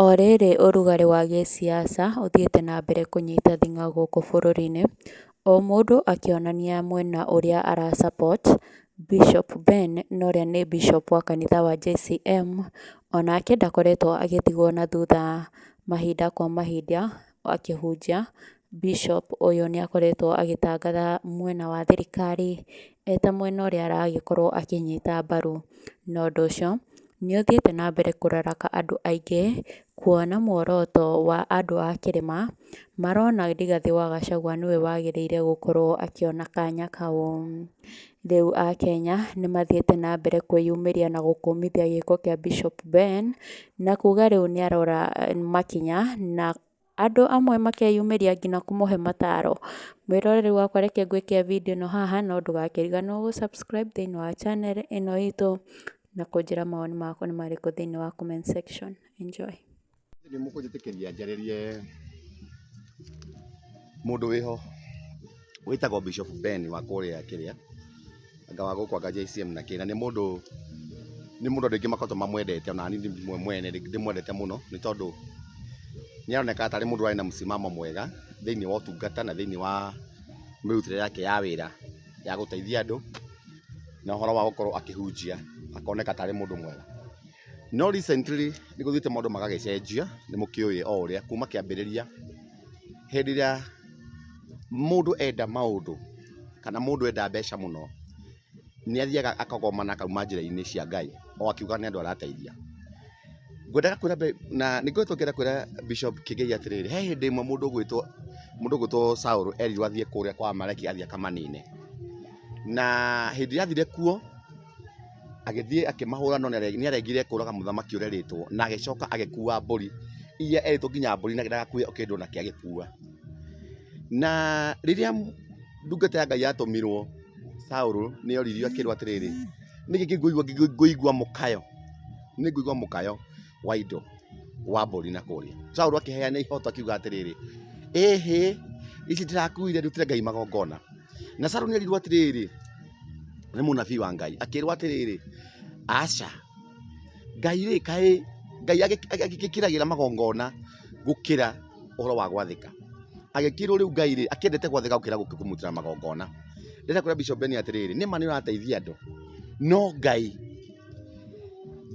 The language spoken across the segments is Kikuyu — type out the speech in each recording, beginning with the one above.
O rĩrĩ ũrugarĩ wa gĩsiasa ũthiĩte na mbere kũnyita thing'a gũkũ bũrũri-inĩ, o mũndũ akĩonania mwena ũrĩa ara support, Bishop Ben na ũrĩa nĩ Bishop wa kanitha wa JCM, onake ndakoretwo agĩtigwo na thutha mahinda kwa mahinda Akĩhunjia, Bishop ũyũ nĩ akoretwo agĩtangatha mwena wa thirikari eta mwena ũrĩa aragĩkorwo akĩnyita mbaru, na ũndũ ũcio nĩ ũthiĩte na mbere kũraraka andũ aingĩ, kuona muoroto wa andũ a kĩrĩma, marona Rigathĩ wa Gachagua nĩwe wagĩrĩire gũkorwo akĩona kanya kau. Rĩu Akenya nĩ mathiĩte na mbere kwĩyumĩria na gũkũmithia gĩko kĩa Bishop Ben, na kuga rĩu nĩ arora makinya, na andũ amwe makeyumĩria nginya kũmũhe mataro. Mwĩroreri wakwa reke ngwĩkĩre video ĩno haha, no ndũgakĩriganĩrwo gũ subscribe thĩinĩ wa channel ĩno itũ, na kũnjĩra mawoni maku nĩ marĩkũ thĩinĩ wa comment section. Enjoy. Nĩ mũkũnjĩtĩkĩria njarĩrie mũndũ wĩho wĩtagwo Bishop Ben wa kũrĩa kĩrĩa, anga wa gũkũ anga JCM na kĩ, na nĩ mũndũ, nĩ mũndũ andũ aingĩ makoretwo mamwendete ona niĩ mwene ndĩmwendete mũno nĩ tondũ nĩ aroneka tarĩ mũndũ ũrarĩ na mũsimamo mwega thĩiniĩ wa ũtungata na thĩiniĩ wa mĩrutĩre yake ya wĩra ya gũteithia andũ na ũhoro wa gũkorwo akĩhunjia, akoneka tarĩ mũndũ mwega. No recently nĩ gũthiĩte maũndũ magagĩcenjia, nĩ mũkĩũĩ o ũrĩa kuma kĩambĩrĩria hĩndĩ ĩrĩa mũndũ enda maũndũ kana mũndũ enda mbeca mũno, nĩ athiaga akagoma na akauma njĩra-inĩ cia Ngai o akiuga nĩ andũ arateithia. Ngwendaga kwĩra na nĩ ngoretwo ngĩenda kwĩra Bishop Kigai atĩrĩrĩ, he hĩndĩ ĩmwe mũndũ ũgwĩtwo mũndũ ũgwĩtwo Saũlũ erirwo athiĩ kũrĩa kwa Amaleki athiĩ akamanine. Na hĩndĩ ĩrĩa athire kuo... Agĩthiĩ akĩmahũra no nĩarengire kũraga mũthamaki ũrĩa erĩtwo na agĩcoka agĩkua mbũri iria erĩtwo nginya mbũri na ndagakue o kĩndũ onakĩ agĩkua. Na rĩrĩa ndungata ya Ngai yatũmirwo Saũlũ nĩoririo akĩrwo atĩrĩrĩ, "Nĩkĩ ngĩkũigua ngĩigua mũkayo? Nĩngũigua mũkayo wa indo wa mbũri na kũrĩa." Saũlũ akĩheana ihoto akiuga atĩrĩrĩ, "Ĩhĩ, ici ndĩrakuire ndutĩre Ngai magongona." Na Saũlũ nĩerirwo atĩrĩrĩ... nĩ mũnabii wa Ngai, akĩrwo atĩrĩrĩ, aca Ngai rĩ, kaĩ Ngai agĩkĩragĩra magongona gũkĩra ũhoro wa gwathĩka? Agĩkĩrwo rĩu Ngai rĩ, akĩendete gwathĩka gũkĩra kũmũtĩra magongona. Rĩrĩa kwĩra Bishop Ben atĩrĩrĩ, nĩ ma nĩ ũrateithia andũ, no Ngai,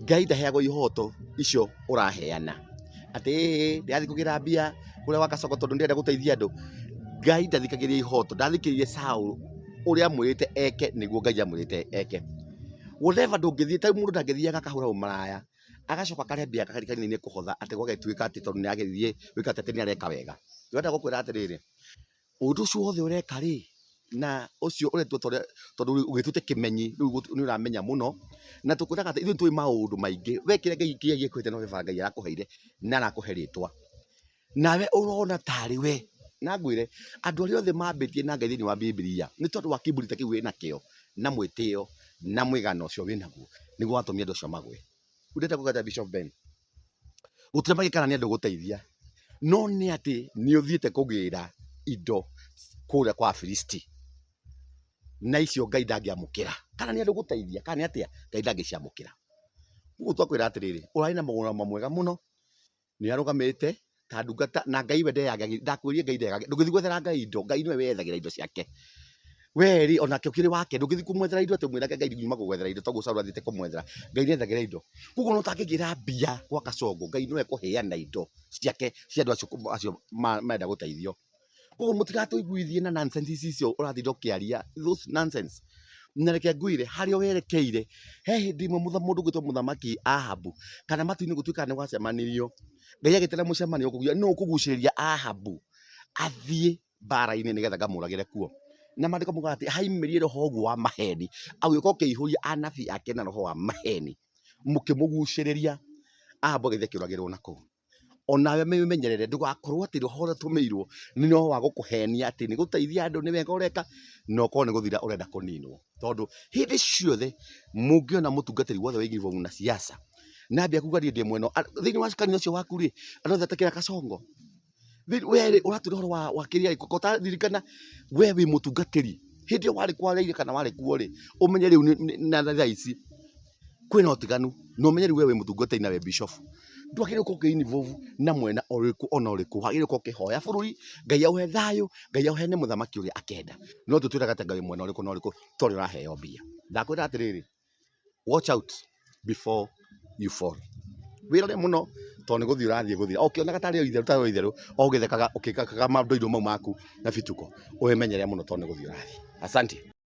Ngai ndaheagwo ihoto icio ũraheana. atĩĩĩĩ ndĩrathiĩ kũgĩra mbia kũrĩa gwa gacongo tondũ nĩndĩrenda gũteithia andũ. Ngai ndathikagĩrĩria ihooto, ndathikĩrĩirie Saũlũ ũrĩa amwĩrĩte eke nĩguo Ngai amwĩrĩte eke. Whatever ndũngĩthiĩ ta rĩu mũndũ ndangĩthiaga akahũra ũmaraya, agacoka akarehe mbia akarĩ kanitha-inĩ kũhotha atĩ gũgagĩtuĩka atĩ tondũ nĩarathiĩ gwĩka atĩ nĩareka wega. Ndĩrenda gũkwĩra atĩrĩrĩ, Ũndũ ũcio wothe ũreka-rĩ, na ũcio ũretua ta ũrĩa tondũ rĩu ũgĩtuĩte kĩmenyi rĩu nĩ ũramenya mũno, na tũkwĩraga atĩ ithuĩ nĩ tũĩ maũndũ maingĩ, we kĩrĩa Ngai kĩrĩa gĩkũhete nĩ vava Ngai arakũheire na arakũhe rĩtwa. Nawe ũrona tarĩ we, na ngwĩre, andũ arĩa othe mambĩtie na Ngai thĩiniĩ wa Bibilia, nĩ tondũ wa kĩburi ta kĩu wĩ nakĩo, na mwĩtĩo, na mũigana ũcio wĩ naguo, nĩguo watũmire andũ acio magwe. Rĩu ndĩrenda gũgĩka atĩa Bishop Ben? gũtirĩ magĩka na nĩ andũ gũteithia, no nĩ atĩ nĩ ũthiĩte kũgĩra indo kũrĩa kwa Afilisti, na icio Ngai ndangĩamũkĩra, kana nĩ andũ gũteithia, kana nĩ atĩa, Ngai ndangĩciamũkĩra. Rĩu twakwĩra atĩrĩrĩ, ũrarĩ na mũgũrũmo mwega mũno, nĩ arũgamĩte ta ndungata na Ngai we ndeyagagĩrĩria ndakwĩrire Ngai ndeyagagĩrĩria ndũgĩthiĩ gwethera Ngai indo Ngai nĩwe weyethagĩra indo ciake we rĩ onake ũkĩrĩ wake ndũgĩthiĩ kũmwethera indo atĩ ũmwĩrage Ngai nyuma gũgwethera indo tondũ Saul athiĩte kũmwethera Ngai nĩethagĩra indo koguo ona ũtangĩgĩra mbia gwa Kasongo Ngai nĩwe ekũheana indo ciake cia andũ acio kũ- acio ma- marenda gũteithio Koguo mũtigatũiguithie na nonsense ici icio ũratinda ũkĩaria, those nonsense. Na reke ngwĩre, harĩa werekeire, he hĩndĩ ĩmwe mũndũ ũgwĩtwo mũthamaki Ahabu, kana matu-inĩ gũtuĩkaga nĩ gwacemanirio, Ngai agĩtĩra mũcemanio kũguo, nũũ ũkũgucĩrĩria Ahabu athiĩ mbara-inĩ nĩgetha ngamũragĩre kuo? Na maandĩko maugaga atĩ haimirire roho ũguo wa maheni, agĩũka akĩihũria anabii ake na roho wa maheni, mũkĩmũgucĩrĩria, Ahabu agĩthiĩ akĩũragĩrwo na kũu. onawe mĩmenyerere ndũgakorwo atĩ rũhonge rũrĩa ũtũmĩirwo nĩ rwa wa gũkũhenia atĩ nĩ gũteithia andũ nĩ wega ũreka, na ũkorwo nĩ gũthira ũrenda kũninwo. Tondũ hĩndĩ ciothe mũngĩona mũtungatĩri wothe wĩ uniform na ciaca, na ambia kuga niĩ ndĩ mwena ũyũ, a- thĩiniĩ wa kanitha ũcio waku rĩ, andũ othe atakĩra kasongo, thĩ- we rĩ ũratua ũhoro wa wa kĩrĩa ĩ, ko ũtaririkana we wĩ mũtungatĩri, hĩndĩ ĩyo warĩ kwa Raila kana warĩ kuo rĩ, ũmenye rĩu nĩ nĩ na thaa ici. kwĩna ũtiganu na ũmenyeru we wĩ mũtungatĩri na wĩ bishop. Ndwagĩrĩirwo gũkorwo ũkĩ involve na mwena ũrĩkũ ona ũrĩkũ. Wagĩrĩirwo gũkorwo ũkĩhoya bũrũri, Ngai aũhe thayũ, Ngai aũheane mũthamaki ũrĩa akenda. No ti ũtwĩraga atĩ anga wĩ mwena ũrĩkũ na ũrĩkũ tondũ ũraheo mbia. Ndakwĩra atĩrĩrĩ, watch out before you fall. Wĩrore mũno tondũ nĩ gũthiĩ ũrathiĩ gũthira. O ũkĩonaga tarĩ o itherũ tarĩ o itherũ, o ũgĩthekaga ũkĩkaga mandoido mau maku na bituko, wĩmenyerere mũno tondũ nĩ gũthiĩ ũrathiĩ. Asante.